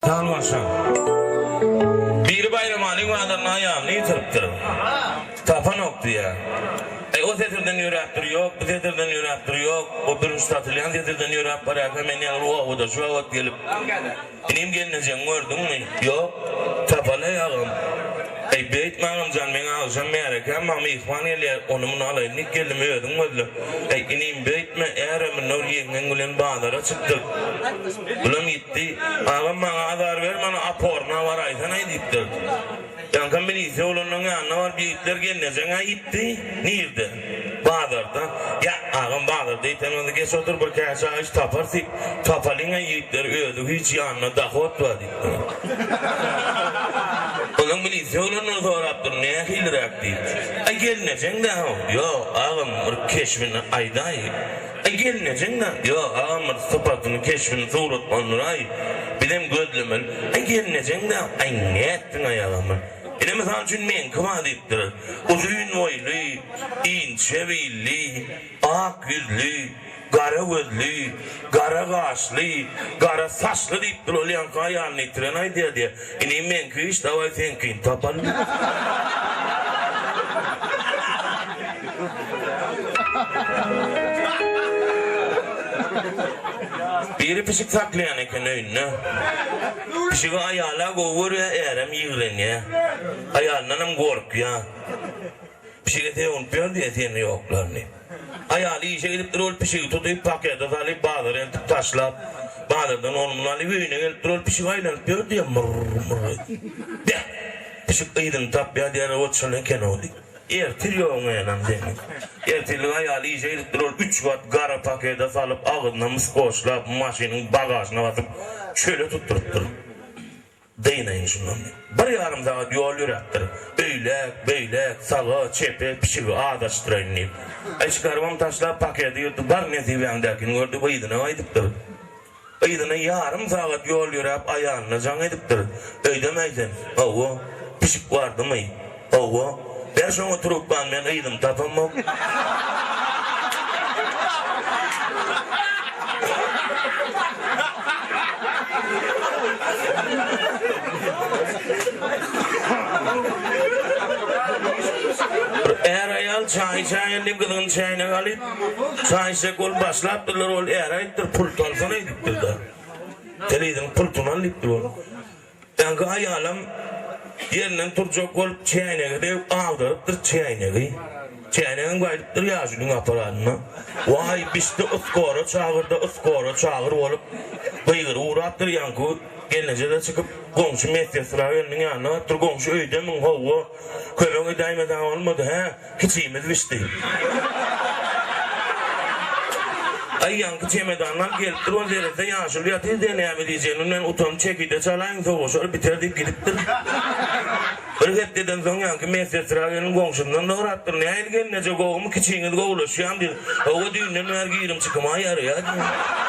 Tanylaşa. Biri Baýramalyň bazarynda aýalyny ýitiripdir. Tapanok diýýär. Äý, o setirden ýöräp dur, ýok, bu setirden ýöräp dur, ýok, o birinji satylýan setirden ýöräp barýarka, men ýaly bu obada şu wagt gelip, Inim, gelnejeňi gördüňmi? Ýok, tapaly-aý agam. Äý, beýtme agam jan, meň agşam märekäm bar, myhman gelýär, ony-muny alaýyn diýip geldim, özüň gözle. Äý, inim, beýtme, ärem, Nur ýeňňeň bilen bazara çykdyk. Bulam. Di, agam maňa azar ber, mana aporyna baraýsana-aý diýipdir. Ýaňkam milisiýa bolanyň ýanyna baryp ýigitler gelnejeň-ä iýipdi. Nirde? Bazarda. Ýa, agam bazarda iýsen onda geç otur bir käşä iş taparys diýip, tapalyň-aý ýigitleri özi hiç ýanynda dohod bar diýipdir. Onsoň milisiýa bolandan sorapdyr, nähiliräk diýip. Aý gelnejeň-dä-ow. Ýok, agam bir keşbini aýdaý. Aý gelnejeňňe ýok agam bir sypatyny keşbini surat onuraý bizem gözlemeli aý gelnejeňňe aý nätdiňaý agamy ine mysal üçin meňki ba diýipdir uzyn boýly inçe billi ak ýüzli gara gözli gara gaşly gara saçly diýipdir ol ýaňky aýalyny ýitiren aýdýa diýe Inim meňki iş daway seňkini tapalymy. Biri pişik saklaýan eken öýünde. Pişigi aýala gowy görýär, ärem ýigrenýär. Aýalyndanam gorkýar. Pişige sögüntýär diýe sen ýoklaryny. Aýaly işe gidipdir ol pişigi tutyp pakete salyp bazara eltip taşlap bazardan ony muny alyp öýüne gelipdir ol pişik aýlanyp ýör diýe myrr myrr edip. Beh! Pişik yzyny tapýar diýer ot şol ekenow diýip. Ertir ýogyň enam seniň. Ertirlik aýaly işe gidipdir ol üç gat gara pakete salyp agzyna mis goşlap maşynyň bagažyna basyp çöle tutdurypdyr. Dynaýyn şundan. Bir ýarym sagat ýol ýöräpdir. Öýläk, beýläk, saga, çepe, pişigi azaşdyraýyn diýip. Eşik garbam taşlap, pakedi ýyrtyp bar nesibäňdäkini gördi we yzyna gaýdypdyr. Yzyna ýarym sagat ýol ýöräp aýalyna jaň edipdir. Öýdemäý sen. Hawa, pişik bardymy? Hawa, ber şoňa trubkany men yzyny tapamok. Bir är-aýal çaý içäýen diýip gyzgyny çäýnege alyp, çaý içjek bolup başlapdyrlar, ol är aýdypdyr, pul salsana, diýipdir-de. Sen yzyňy pul tuman, diýipdir ol. Öňki aýalam ýerinden turjak bolup çäýnegi degip agdarypdyr çäýnegi. Çäýnegem gaýdypdyr ýaşulyň aparanyna. Waý, bişdi yskora çagyr-da, yskora çagyr bolup, gygyryp ugrapdyr. Ýaňky gelneje-de çykyp, goňşy medsestra gelniň ýanyna barypdyr. Goňşy öýdemiň, howwa, kömek edäýmeseň bolmady, hä? Kiçimiz bişdi. Aý ýaňky çemedanlar gelipdir ol derezde ýaşuly ýatyr diýe näme diýjegini bilmän utanyp çekirde çalaýyň sowaşar biter diýip gidipdir. Bir hepdeden soň ýaňky medsestra gelin goňşymdan sorapdyr nähili gelneje gowumy kiçiňiz gowulaşýamy diýip Hawa düýnden bäri girim çykymay ýaraýar diýen.